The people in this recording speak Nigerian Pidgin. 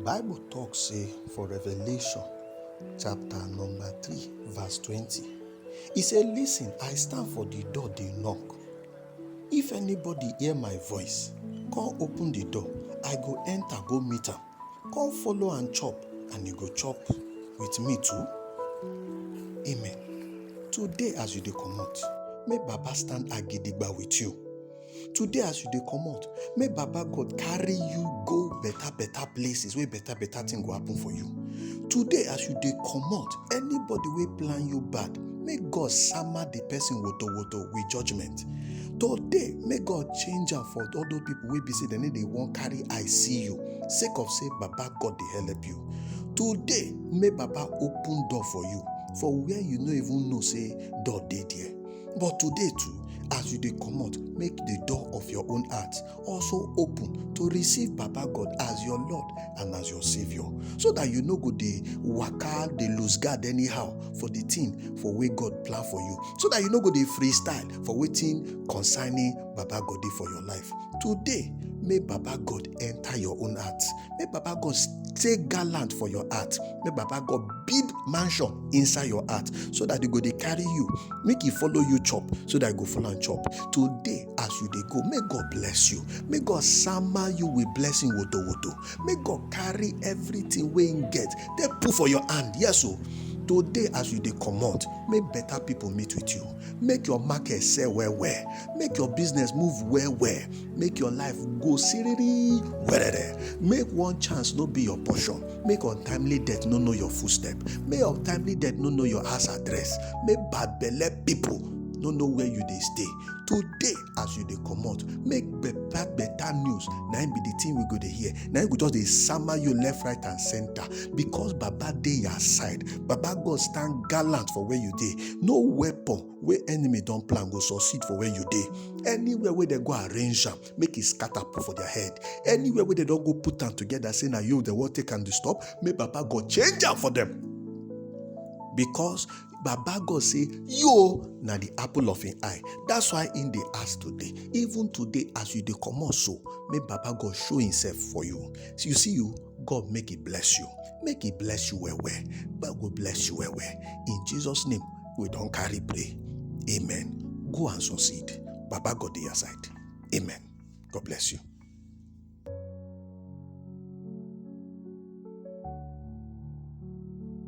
bible talk say for revelation chapter number 3 verse 20 he say listen i stand for the door dey knock if anybody hear my voice come open the door i go enter go meet am come follow and chop and you go chop with me too amen today as you dey comot make baba stand agidigba with you today as you dey comot make baba god carry you go better better places wey better better thing go happen for you today as you dey comot anybody wey plan you bad make god sama the person woto woto with judgement today make god change am for all those people wey be say dem no dey wan carry eye see you sake of say baba god dey help you today make baba open door for you for where you no even know say door dey there But today too, as you dey comot, make the door of your own heart also open to receive Baba God as your Lord and as your Savior, so that you no go dey waka, dey lose guard anyhow for the thing for wey God plan for you, so that you no go dey freestyle for wetin concerning Baba God dey for your life. Today, make Baba God enter your own heart. May Baba God stay gallant for your heart. May Baba God build mansion inside your heart so that they go they carry you. Make you follow you chop so that you go follow and chop. Today, as you they go, may God bless you. May God summer you with blessing woto woto. May God carry everything we get. They put for your hand. Yes, so. Oh. Today, as you dey comot, make better people meet with you. Make your market sell well well. Make your business move well well. make your life go siriri werere make one chance no be your portion make untimely death no know your footstep make untimely death no know your house address make bad belle people no know where you dey stay today as you dey comot make better better news na im be the thing we go dey hear na im go just dey sama you left right and center because baba dey your side baba god stand gallant for where you dey no weapon wey enemy don plan go succeed for where you dey anywhere wey dem go arrange am make e scatter put for their head anywhere wey dem don go put am together say na you dem wan take am disturb make baba god change am for them because baba god say yo na the apple of him eye that's why him dey ask today even today as you dey comot so make baba god show himself for you you see you God make it bless you. Make it bless you well well. God go bless you well well. In Jesus' name, we don't carry pray. Amen. Go and succeed. Baba God to your side. Amen. God bless you.